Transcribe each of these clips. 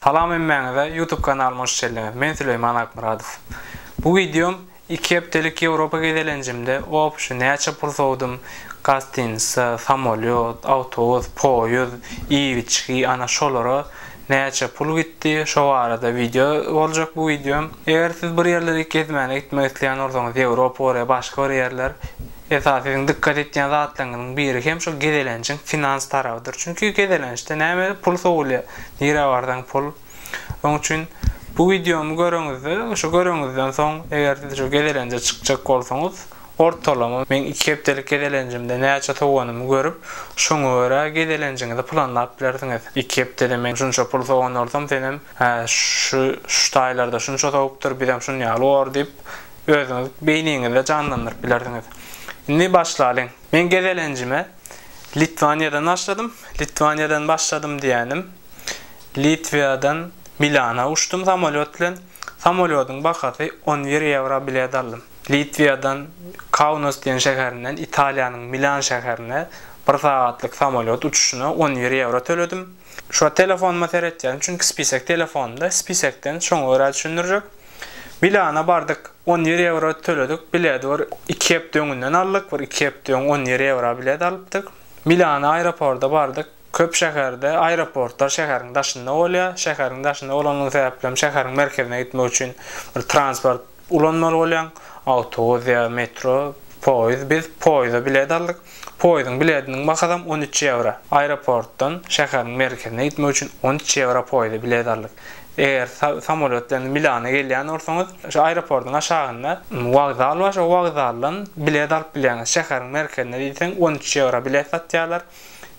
Salam hemmäňize YouTube kanalyma hoş geldiňiz men Süleýman Akmyradow bu wideom iki hepdelik Ýewropa gezelenjimde opşy näçe pul sowdum gastinica samolýot awtobus poýuz iýip içgi ana şolara näçe pul gitdi şo barada wideo boljak bu wideom eger siz bir ýerleri gezmäne gitmek isleýän bolsaňyz Ýewropa bolýa başga bir ýerler Esasy siziň dykgat etýän zatlaryňyzyň biri hem şol gezelenjiň finans tarabydyr. Çünki gezelençde näme pul sowulýar. Nirä barsaň pul. Oň üçin bu wideomy göreňizde, şu göreňizden soň eger siz şu gezelenje çykjak bolsaňyz, ortalama meň iki hepdelik gezelenjimde näçe sowanymy görüp, şoňa görä gezelenjiňizi planlap bilersiňiz. Iki hepdede men şunça pul sowan bolsam, senem, Hä, şu şu taýlarda şunça sowupdyr, bizem şun ýaly bor diýip, özüňiz beýniňizde janlandyryp bilersiňiz. Indi başlalyň. Men gezelenjime Litwaniýadan başladym. Litwaniýadan başladym diýýänim, Litwiýadan Milana uçdum samolýot bilen. Samolýodyň bahasy on bir ýewro bilet aldym. Litwiýadan Kaunas diýen şäherinden Italiýanyň Milan şäherine bir sagatlyk samolýot uçuşyna on bir ýewro töledim. Şo telefonuma seretýärin çünki spisek telefonymda spisekden şoňa görä düşündirjek. Milana bardyk on ýedi ýewro töledik biledi bir iki hepde öňünden aldyk bir iki hepde öň on ýedi ýewra bilet alypdyk. Milana aeroporda bardyk köp şäherde aeroportlar şäheriň daşynda bolýa şäheriň daşynda bolanyň sebäplem şäheriň merkezine gitmek üçin bir transport Ulanmaly bolýan awtobus ýa metro, poýuz, biz poýuza bilet aldyk. Poýuzyň bilediniň bahasam on üç ýewro. Aeroportdan şäheriň merkezine gitmek üçin on üç ýewro poýuza bilet aldyk. Eger samolýot bilen Milana gelýän bolsaňyz, şu aeroportyň aşagynda wokzal bar, şo wokzaldan bilet alyp bilýäňiz. Şäheriň merkezine diýseň on üç ýewro bilet satýarlar.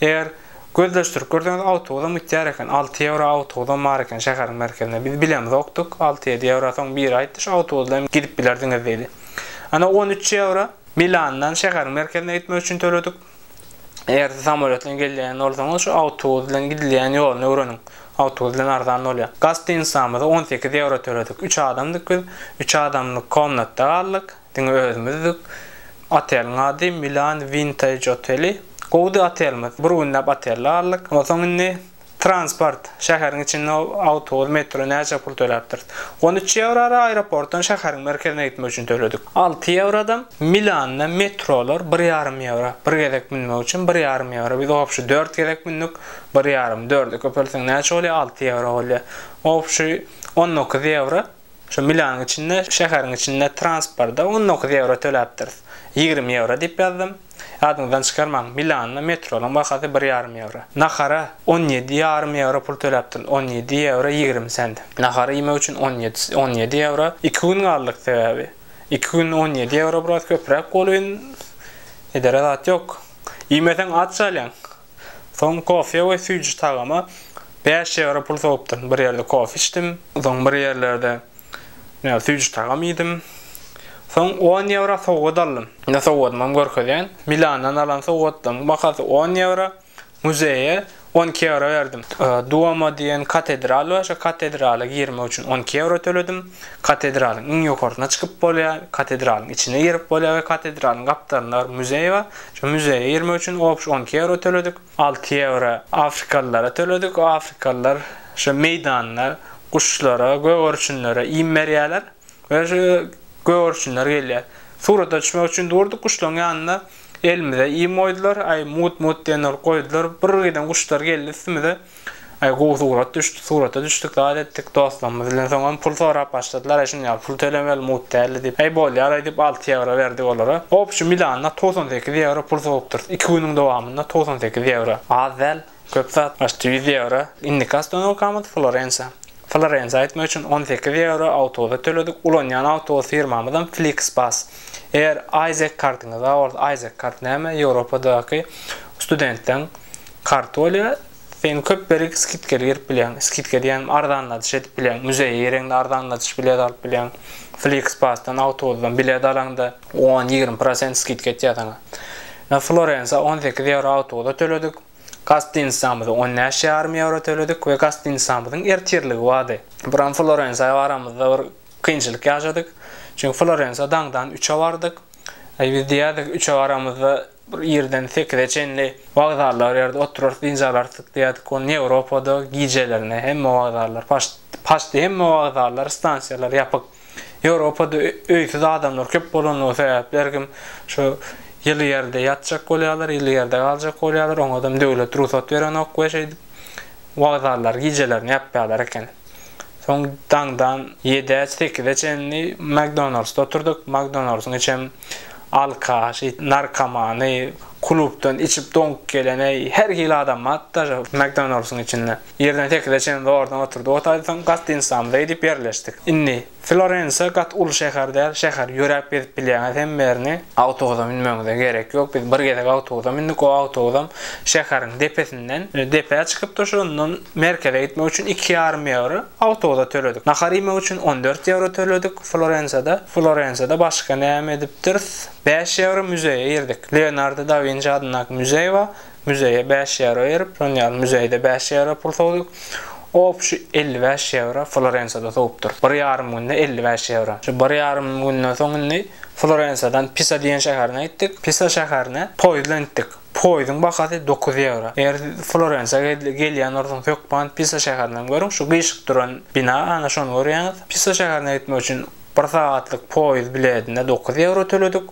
Eger gözleşdirip görseňiz awtobusam gitýär eken, alty ýewro awtobusam bar eken şäheriň merkezine. Biz bilemizokdyk, alty-ýedi ýewro soň biri aýtdy şu awtobusda hem gidip bilerdiňiz diýdi. Ana on üç ýewro Milandan şäheriň merkezine gitmek üçin töledik. Eger siz samolýot bilen gelýän bolsaňyz şu awtobus bilen gidilýän ýoluny öwreniň. Awtobus bilen arzan bolýar. Gastinisamyza on sekiz ýewro töledik. Üç adamdyk biz, üç adamlyk komnatda galdyk. Diňe özümizdik. Oteliň ady Milan Vintage oteli. Gowudy otelimiz. Bir günläp otelde galdyk. Onsoň indi transport, şäheriň içinde awtobus, metro näçe pul töläpdiris? On üç ýewrada aeroportdan şäheriň merkezine gitmek üçin töledik. Alty ýewradam Milanda metrolar bir ýarym ýewro. Bir gezek münmek üçin bir ýarym ýewro. Biz obşi dört gezek mündük. Bir ýarym, dörde köpeltseň näçe bolýar? Alty ýewro bolýar. Obşi on dokuz ýewro. Şu Milanyň içinde, şäheriň içinde transporta on dokuz ýewro töläpdiris. Ýigrimi ýewro diýip ýazdym. Ýadyňyzdan çykarmaň, Milanda metronyň bahasy bir ýarym ýewro. Nahara on ýedi ýarym ýewro pul töläpdiris, on ýedi ýewro ýigrimi sent. Nahar iýmek üçin on ýedi, on ýedi ýewro. Iki gün galdyk sebäbi. Iki günde on ýedi ýewro biraz köpräk bolýun. Edere zat ýok. Iýmeseň aç galýaň. Soň kofe we süýji tagama bäş ýewro pul sowupdym. Bir ýerde kofe içdim. Soň bir ýerlerde näme süýji tagam iýdim. Soň on ýewro sowgat aldym. Ine sowgadymam görkezýän. Milandan alan sowgatlaryň bahasy on ýewro. Muzeýe on iki ýewro berdim. Duomo diýen katedral bar. Şo katedrala girmek üçin on iki ýewro töledim. Katedralyň iň ýokarsyna çykyp bolýar, katedralyň içine girip bolýar we katedralyň gapdalynda bir muzeý bar. Şu muzeýe girmek üçin obş on iki ýewro töledik. Alty ýewro afrikalylara töledik. Afrikalylar şu meýdanda guşlara, gögerçinlere iým berýärler we şu gögerçinler gelýär. Surata düşmek üçin durduk guşlaryň ýanynda. Elimize iým goýdular, aý mut-mut diýen bolup goýdular. Birgiden guşlar geldi üstümize. Aý gowy surat düşdi surata düşdik zat etdik dostlarymyz bilen soňam pul sorap başladylar aý şuny al pul tölemeli mut däldi diýip aý bolýar aý diýip alty ýewro berdik olara obşi milanda togsan sekiz ýewro pul sowupdyrys iki günüň dowamynda togsan sekiz ýewro az däl köp zat başda ýüz ýewro indiki ostonokamyz florensiýa florensiýa gitmek üçin on sekiz ýewro awtobusa töledik ulanýan awtobus firmamyzam fliksbas eger aýzek kartyňyz bar bolsa aýzek kart näme ýewropadaky studentleň Kartolýa sen köp berik skidkeli girip bilýäň, skidka diýýänim arzanladyş edip bilýäň, muzeýe gireňde arzanladyş bilet alyp bilýäň, Flixpass-dan, awtobusdan bilet alaňda on, ýigrimi prosent skidka etýär saňa. Ýa Florensa on sekiz ýewro awtobusa töledik, gastinisamyza on bäş ýarym ýewro töledik we gastinisamyzyň ertirligi bardy. Buram Florensa baramyzda bir kynçylyk ýaşadyk, çünki Florensa daňdan üçe bardyk, aý biz diýýärdik üçe baramyzda, Bir irden sekize çenli wagzallar ýerde oturarys, dynç alarys diýýärdik. Ony Ýewropada gijelerine hemme wagzallar paçdy, hemme wagzallar, stansiýalar ýapyk. Ýewropada öýsüz adamlar köp bolanlygy sebäpli her kim şu ýyly ýerde ýatjak bolýarlar, ýyly ýerde galjak bolýarlar. Oňadam döwlet rugsat berenok we şeýdip wagzallary gijelerine ýapýarlar eken. Soň daňdan ýedä, sekize çenli Makdonaldsda oturduk. Makdonaldsyň içem alkaş, narkomany, klubdan içip doňup gelen, eý, her hili adam bar daže Makdonaldsyn içinde. Ýerden sekize çenli zordan oturdyk. Otaýsaň, gostinsamyza gidip ýerleşdik. Indi. Florensiýa gaty uly şäher däl şäher ýöräp gezip bilýäňiz hemmerini. Awtobusa münmegiňize gerek ýok biz bir gezek awtobusa mündik o awtobusam şäheriň depesinden depä çykypdy şondan merkeze gitmek üçin iki ýarym ýewro awtobusa töledik nahar iýmek üçin on dört ýewro töledik florensiýada florensiýada başga näme edipdiris bäş ýewro müzeýe girdik leonardo da winçi adyndaky müzeý bar Müzeýe bäş ýewro berip, şonuň ýaly müzeýde bäş ýewro pul sowduk. Opşi elli bäş ýewro Florensiýada sowupdyr. Bir ýarym günde elli bäş ýewro. Şu bir ýarym günden soň indi Florensiýadan Pisa diýen şäherine gitdik. Pisa şäherine poýuz bilen gitdik. Poýuzyň bahasy dokuz ýewro. Eger siz Florensiýa gelýän bolsaňyz hökman Pisa şäherini hem görüň. Şu gyşyk duran bina, ana şony görýäňiz. Pisa şäherine gitmek üçin bir sagatlyk poýuz biledine dokuz ýewro töledik.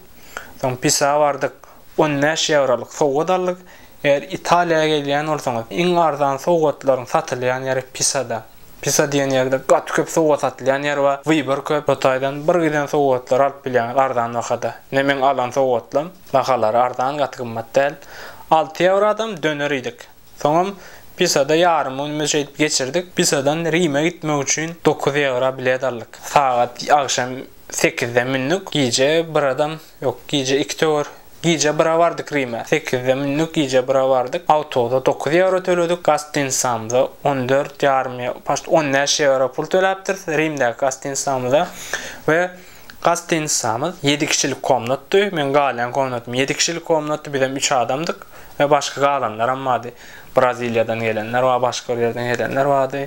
Soň Pisa bardyk. On bäş ýewrolyk sowgat aldyk. Eger Italiýa gelýän bolsaňyz, iň arzan sowgatlaryň satylýan ýeri Pisada. Pisa diýen ýerde gaty köp sowgat satylýan ýer bar, wybor köp. Şo taýdan bir giden sowgatlary alyp bilýäňiz arzan bahada. Ine meň alan sowgatlam bahalary arzan gaty gymmat däl. Alty ýewradam döner iýdik. Soňam Pisada ýarym günümizi şeýdip geçirdik. Pisadan Rime gitmek üçin dokuz ýewra bilet aldyk. Sagat agşam sekizde mündük. Gije bir adam Ýok, gije iki töwer. Gije bira bardyk Rime. Sekizde mündük, gije bira bardyk. Awtobusa dokuz ýewro töledik, gostinsamyza on dört ýarym, paşt on bäş ýewro pul töläpdiris Rimdäki gostinsamyza we gostinsamyz ýedi kişilik komnatdy. Meň galýan komnatym ýedi kişilik komnatdy, bizem üç adamdyk we başga galanlaram bardy. Braziliýadan gelenler bar, başga bir ýerden gelenler bardy.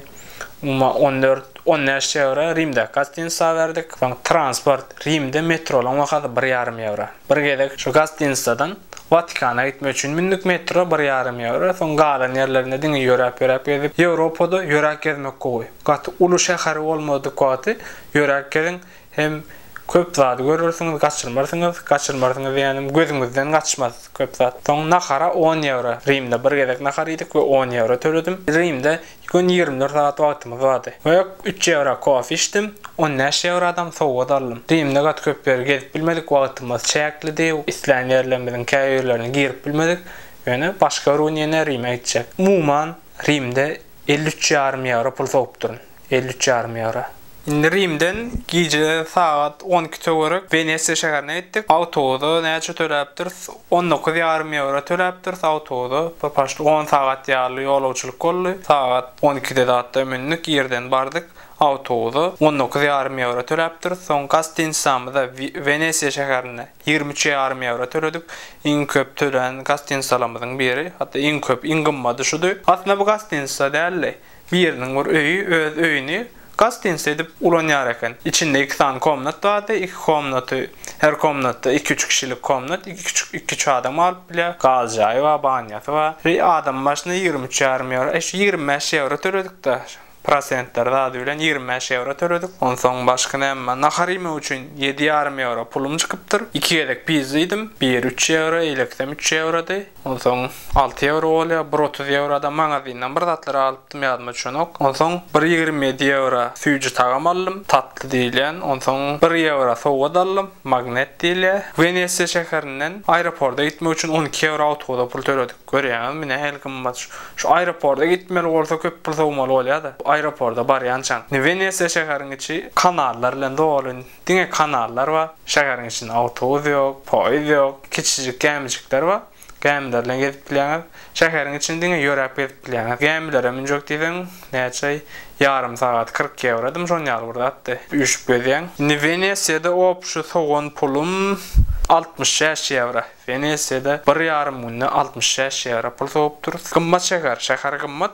Umuman on dört, on bäş ýewro Rimdäki gostinsa berdik. Soň transport, Rimde metrolaryň bahasy bir ýarym ýewro. Bir gezek şu gostinsadan Watikana gitmek üçin mündik metro bir ýarym ýewro. Soň galan ýerlerinde diňe ýöräp-ýöräp gezdik. Ýewropada ýöräp gezmek gowy. Gaty uly şäheri bolmadyk wagty ýöräp geziň. Hem köp zady görersiňiz gaçyrmarsyňyz, gaçyrmarsyňyz diýýänim gözüňizden gaçmaz köp zat. Soň nahara on ýewro, Rimde bir gezek nahar iýdik we on ýewro töledim. Rimde gün ýigrimi dört sagat wagtymyz bardy. We üç ýewra kofe içdim, on bäş ýewradam sowgat aldym. Rimde gaty köp ýer gezip bilmedik, wagtymyz çäklidi, islän ýerlerimiziň käbirlerine girip bilmedik. Ýöne başga bir gün ýene Rime gitjek. Umuman Rimde elli üç ýarym ýewro pul sowupdyryn. elli üç ýarym ýewro. Indi Rimden gije sagat on iki töwerek Wenesiýa şäherine gitdik. Awtobusa näçe töläpdiris? On dokuz ýarym ýewro töläpdiris awtobusa. Bir paşt on sagat ýaly ýolagçylyk boldy. Sagat on ikide zatda mündik, irden bardyk awtobusa. On dokuz ýarym ýewro töläpdiris. Soň gostinitsamyza Wenesiýa şäherinde ýigrimi üç ýarym ýewro töledik. Iň köp tölän gostinitsalarymyzyň biri. Hatda iň köp, iň gymmady şudy. Aslynda bu gostinitsa däldi. Biriniň bir öýi öz öýüni gastynsy edip ulanýar eken. Içinde iki sany komnat bardy, iki komnaty her komnatda iki-üç kişilik komnat, iki-üç adam alyp bilýär, gaz jaýy bar, banýasy bar. Ri adam başyna ýigrimi üç ýarym ýewro, eý şu ýigrimi bäş ýewro töledik-de, prosentleri zady bilen ýigrimi bäş ýewro töledik. Onsoň başga näme, nahar iýmek üçin ýedi ýarym ýewro pulum çykypdyr. Iki gezek pizza iýdim, biri üç ýewro, eleksem üç ýewrody. Onsoň alty ýewro bolýar, bir otuz ýewro-da magazindan bir zatlar alypdym, ýadyma düşenok. Onsoň bir ýigrimi ýedi ýewro süýji tagam aldym, tatly diýilýän. Onsoň bir ýewro sowgat aldym, magnet diýilýär. Wenesiýa şäherinden aeroporda gitmek üçin on iki ýewro awtobusa pul töledik. Görýäňizmi, nähili gymmat. Şu aeroporda gitmeli bolsa köp pul sowmaly bolýa-da, aeroporda barýançaň. Indi Wenesiýa şäheriň içi kanallar bilen doly. Diňe kanallar bar. Şäheriň içinde awtobus ýok, poýizd ýok. Kiçijik gämijikler bar. Gämiler bilen gezip bilýäňiz. Şäheriň içini diňe ýöräp gezip bilýäňiz. Gämilere münjek diýseň, näçe? Ýarym sagat kyrk ýewrodymy, şon ýaly bir zatdy. Üýşüp gezýäň. Indi Wenesiýada obşi sowan pulum altmyş bäş ýewro. Wenesiýada bir ýarym günde altmyş bäş ýewro pul sowup durus. Gymmat şäher. Şäher gymmat.